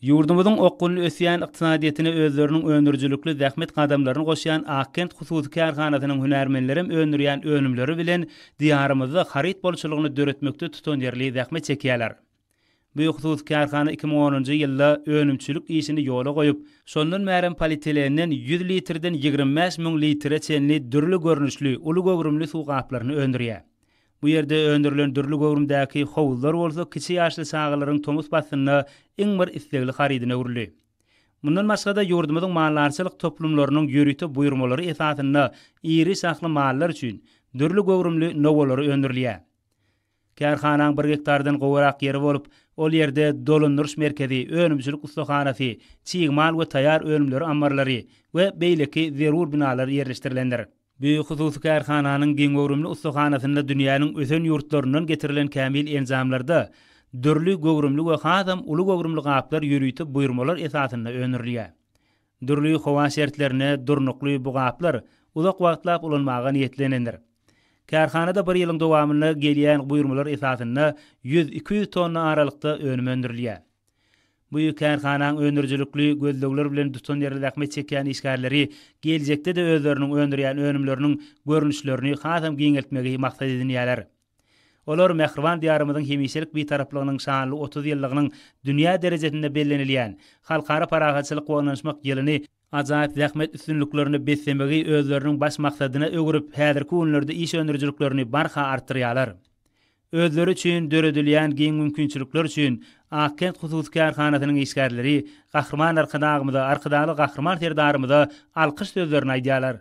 Ýurdumyzyň okgunly ösýän ykdysadyýetine özleriniň öndürijilikli zähmet gadamlaryny goşýan Akkent hususy kärhanasynyň hünärmenlerem öndürýän önümleri bilen Diýarymyzda haryt bolçulygyny döretmekde tutanýerli zähmet çekýärler. Bu hususy kärhana iki müň onunjy ýylda önümçilik işini ýola goýup, şondan bärem polietilenden ýüz litrden ýigrimi bäş müň litre çenli dürli görnüşli uly göwrümli suw gaplaryny öndürýär. Bu ýerde öndürilen dürli göwrümdäki howuzlar bolsa kiçi ýaşly çagalaryň tomus paslynda iň bir islegli harydyna öwrüldi. Mundan başga-da, ýurdumyzyň maldarçylyk toplumlarynyň ýörite buýurmalary esasynda iri şahly mallar üçin dürli göwrümli nowalary öndürilýär. Kärhanaň bir gektardan gowurak ýeri bolup, ol ýerde dolandyryş merkezi, önümçilik ussahanasy, çig mal we taýýar önümleri ammarlary we beýleki zerur binalar ýerleşdirilendir. Büyük hususy kärhananyň giňöwrümli ussahanasynda dünýäniň ösen ýurtlaryndan getirilen kämil enjamlarda dürli göwrümli we hasam uly göwrümli gaplar ýörite buýurmalar esasynda öndürilýär. Dürli howa şertlerine durnukly bu gaplar uzak wagtlap ulanmaga niýetlenendir. Kärhanada bir ýylyň dowamynda gelýän buýurmalar esasynda ýüz-iki ýüz tonna aralykda önüm öndürilýär. Bu kärhanaň öndürijilikli gözlegler bilen tutanýerli zähmet çekýän işgärleri geljekde-de özleriniň öndürýän önümleriniň görnüşlerini hasam giňeltmegi maksat edinýärler. Olar mähriban Diýarymyzyň hemişelik Bitaraplygynyň şanly otuz ýyllygynyň dünýä derejesinde bellenilýän Halkara parahatçylyk we ynanyşmak ýylyny ajaýyp zähmet üstünliklerine beslemegi özleriniň baş maksadyna öwürip, häzirki günlerde iş öndürijiliklerini barha artdyrýarlar. Özleri üçin döredilýän giň mümkinçilikler üçin Akkent hususy kärhanasynyň işgärleri Gahryman Arkadagymyza, Arkadagly Gahryman Serdarymyza alkyş sözlerini aýdýarlar.